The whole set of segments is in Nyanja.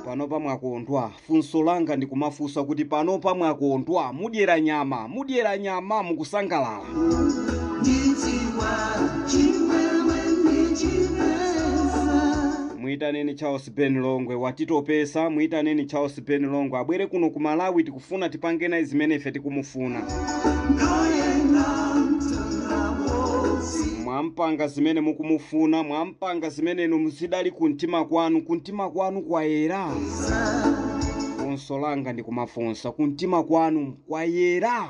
panopa mwakondwa funso langa ndikumafunsa kuti panopa mwakondwa mudyera nyama mudyera nyama mukusangalala muitaneni charles Ben Longwe watitopesa, muitaneni Charles Ben Longwe abwere kuno ku Malawi, tikufuna tipange naye zimene ife tikumufuna. Mwampanga zimene mukumufuna, mwampanga zimene inu zidali kumtima kwanu, kumtima kwanu kwayera. Funso langa ndikumafunsa, kumtima kwanu kwayera?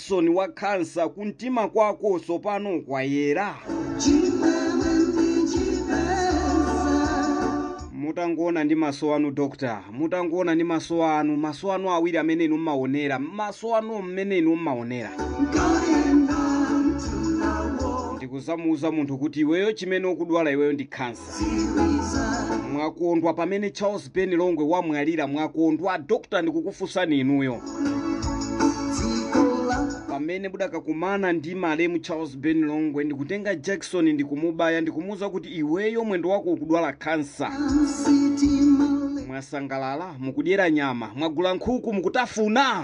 jakisoni wa khansa kumtima kwako tsopano kwayera mutangoona ndi maso anu dokta mutangoona ndi maso anu maso anu awiri amene inu mmaonera maso anu mmene inu mmaonera ndikudzamuuza munthu kuti iweyo chimene ukudwala iweyo ndi khansa mwakondwa pamene charles ben longwe wamwalira mwakondwa dokta ndikukufunsani inuyo pamene mudakakumana ndi malemu charles ben longwe ndikutenga jakisoni ndikumubaya ndikumuwuza kuti iweyo mwendo wako ukudwala khansa mwasangalala mukudyera nyama mwagula nkhuku mukutafuna